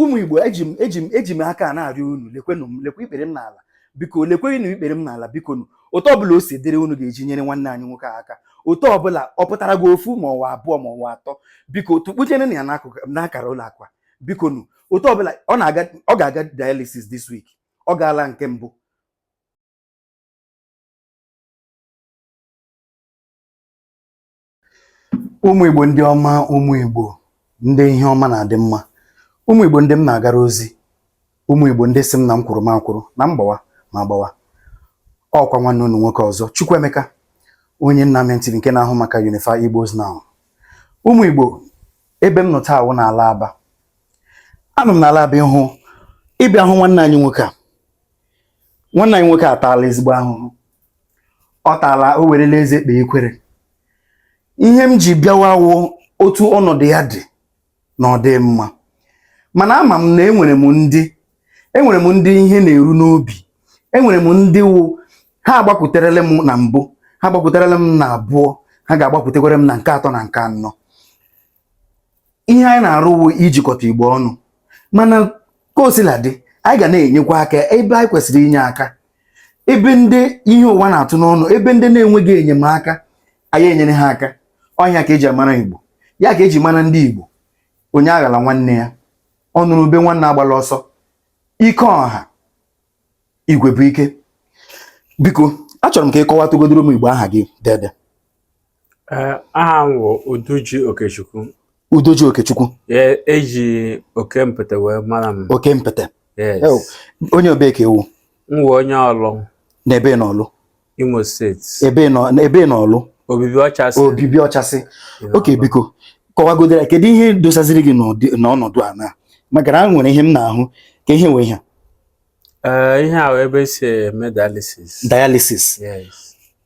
ụmụ igbo eji m eji m eji m aka a na-arịọ unu lekwenụ m lekwe ikpere m n'ala biko lekwenụ ikpere m n'ala biko nụ otu ọbụla o si dịrị unu ga-eji nyere nwanne anyị nwoke a aka otu ọbụla ọ pụtara gị ofu ma ọ wụ abụọ ma ọ wụ atọ biko tukpunyere na ya n'akụkụ n'akara ụlọ akụ a biko nụ otu ọbụla ọ na-aga ọ ga-aga dialysis this week ọ gaala nke mbụ ụmụ Igbo ndị ọma ụmụ Igbo ndị ihe ọma na-adị mma ụmụ Igbo ndị m na-agara ozi ụmụ Igbo ndị sị m na m kwụrụ m akwụrụ na m gbawa m agbawa ọ kwa nwanne unu nwoke ọzọ Chukwuemeka onye nna m ntiri nke na-ahụ maka Unify Igbos Now ụmụ Igbo ebe m nọ taa wụ n'ala Aba anọ m n'ala Aba ịhụ ịbịa hụ nwanne anyị nwoke a nwanne anyị nwoke ataala ezigbo ahụhụ ọ taala o werela eze kpee ekwere ihe m ji bịawa wụ otu ọnọdụ ya dị na ọ dị mma mana ama m na enwere m ndị enwere m ndị ihe na-eru n'obi enwere m ndị wụ ha agbakwuterela m na mbụ ha agbakwuterela m na abụọ ha ga-agbakwutekwere m na nke atọ na nke anọ ihe anyị na-arụ wụ ijikọta igbo ọnụ mana ka o sila dị anyị ga na-enyekwa aka ebe anyị kwesịrị inye aka ebe ndị ihe ụwa na-atụ n'ọnụ ebe ndị na-enweghị enyemaka anyị enyere ha aka ọ ya ka eji amara igbo ya ka eji mara ndị igbo onye aghala nwanne ya ọ nụrụ ube nwanne agbala ọsọ ike ọha igwe bụ ike biko achọrọ m ka ị kọwatụgodoro ụmụ igbo aha gị dede aha m bụ Uduji Okechukwu Udoji Okechukwu eji e oke mpete wee mara m oke mpete onye ebee ka ị wụ m wụ onye Ọlụ na ebee na Ọlụ Imo steeti ebee na Ọlụ Obibi Ọchasị Obibi Ọchasị okay biko kọwagodoro kedu ihe dosaziri gị n'ọnọdụ a na maka na nwere ihe m na-ahụ ka ihe nwee ihe a ihe a ebe e si eme dialysis dialysis yes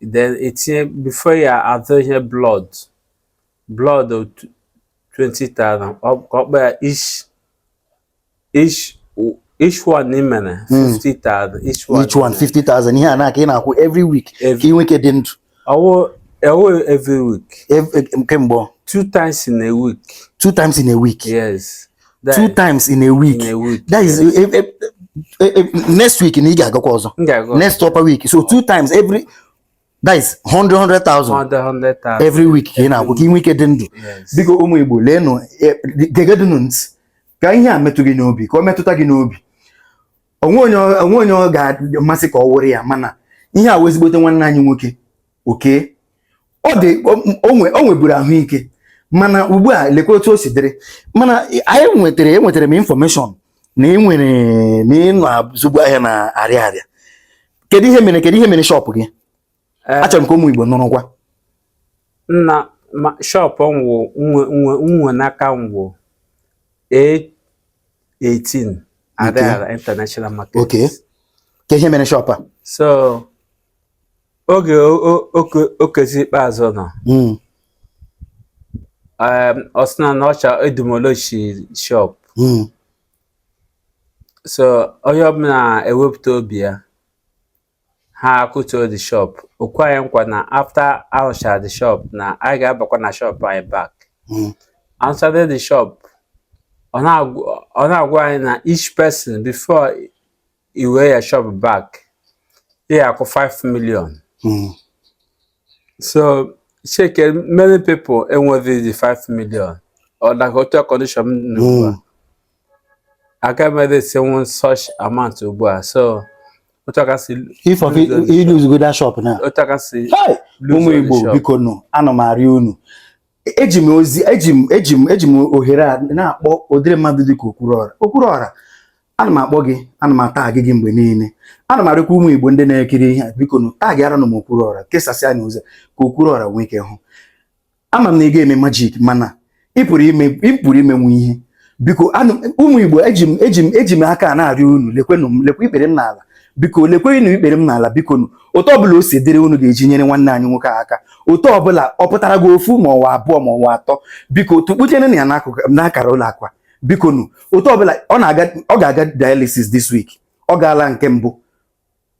then e tinye before ya atụ ihe blood blood 20,000 ka ọ kpọ ya each each each one n'imere 50,000 each one each one 50,000 ihe a na ka ị na-akwụ every week ka ị nwee ike dị ndụ ọ wụ ọ wụ every week kemgbe two times in a week two times in a week yes two times in a week in a week that is yes. if, if, if, next week na ị ga-agakwa ọzọ next upper week so two times every that is 100 100,000 every week ka ị na-akwụ ka ị nwee ike dị ndụ biko ụmụ Igbo leenụ eh, gegedụnụ ntị ka ihe a metụ gị n'obi ka ọ metụta gị n'obi o nwe onye ọ ga-amasị ka ọ wụrụ ya mana ihe a wụ ezigbote nwanne anyị nwoke oke ọ dị o nweburu ahụike mana ugbu a lekwa otu o si dịrị mana anyị nwetara enwetara m information na ị nwere na ị na-azụbu ahịa na Ariaria kedu ihe mere kedu ihe mere shop gị eh. achọrọ m ka ụmụ Igbo nụrụkwa na shop nwụ nwe n'aka nwụ 18 Ariaria International Market. Okay. Kee ihe mere shop a? So, oge Okezie Ikpeazu nọ hmm. ọ sị na ọ ga-edemolish shop hmm. so onye ọbụla ewepụta ibu ya ha akụtuo the shop o kwe anyị nkwa na after arụcha the shop na anyị ga-abakwa na shop anyị back hmm. arụchaa the shop ọ na-agwa anyị na each person before i wee your shop back ị ya-akwụ 5 million Mm. so cheke many people enweghị the 5 million ọ dịka otu condition m nọ ugbu a Mm. agaghị m eraisenwu such amount ugbu a so otu a ka si If of Lose on the iluzugo that shop na otu a ka si Hey! lose ụmụ on the Igbo shop. biko nụ ana m arịọ unu eji m ozi eji m eji m eji m ohere a na-akpọ ụdịrị mmadụ dịka Okwuruọra Okwuruọra ana m akpọ gị ana m atag gị mgbe niile ana m arịọkwa ụmụ igbo ndị na-ekiri ihe a biko nụ tagịaranụ m Okwuruọra kesasịanụ ozi ka Okwuruọra nwee ike hụ ama m na ị gaghị eme magic mana ị pụrụ ime ị pụrụ imenwu ihe biko ụmụ igbo eji m eji m eji m aka a na-arịọ unu lekwenụ m lekwa ikpere m n'ala biko lekwenụ ikpere m n'ala biko nụ otu ọbụla o si dịrị unu ga-eji nyere nwanne anyị nwoke a aka otu ọbụla ọ pụtara gị ofu ma ọ wụ abụọ ma ọ wụ atọ biko tukpucherenụ ya n'akara ụlọ akụ a biko nụ otu ọbụla ọ na-aga ọ ga-aga dialysis this week ọ gaala nke mbụ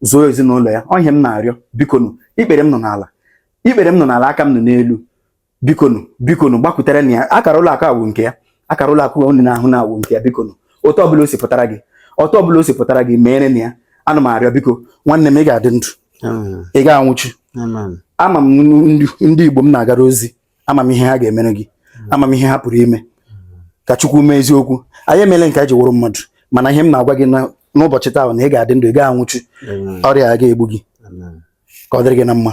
zuo ezinụlọ ya ọ ihe m na-arịọ bikonu ikpere m nọ n'ala ikpere m nọ n'ala aka m nọ n'elu bikonu bikonu gbakwuterenụ ya akara ụlọ akụ a wụ nke ya akara ụlọ akụ unu na-ahụ na awụ nke ya bikonu otu ọbụla o si pụtara gị otu ọbụla o si pụtara gị meerenụ ya ana m arịọ biko nwanne m ị ga-adị ndụ ị gaghị anwụchu ama m ndị Igbo m na-agara ozi ama m ihe ha ga-emere gị ama m ihe ha pụrụ ime ka Chukwu mee eziokwu anyị emeele nke anyị ji wụrụ mmadụ mana ihe m na-agwa gị n'ụbọchị taa na ị ga-adị ndụ ị gaghị anwụchu ọrịa agaghị egbu gị ka ọ dịrị gị na mma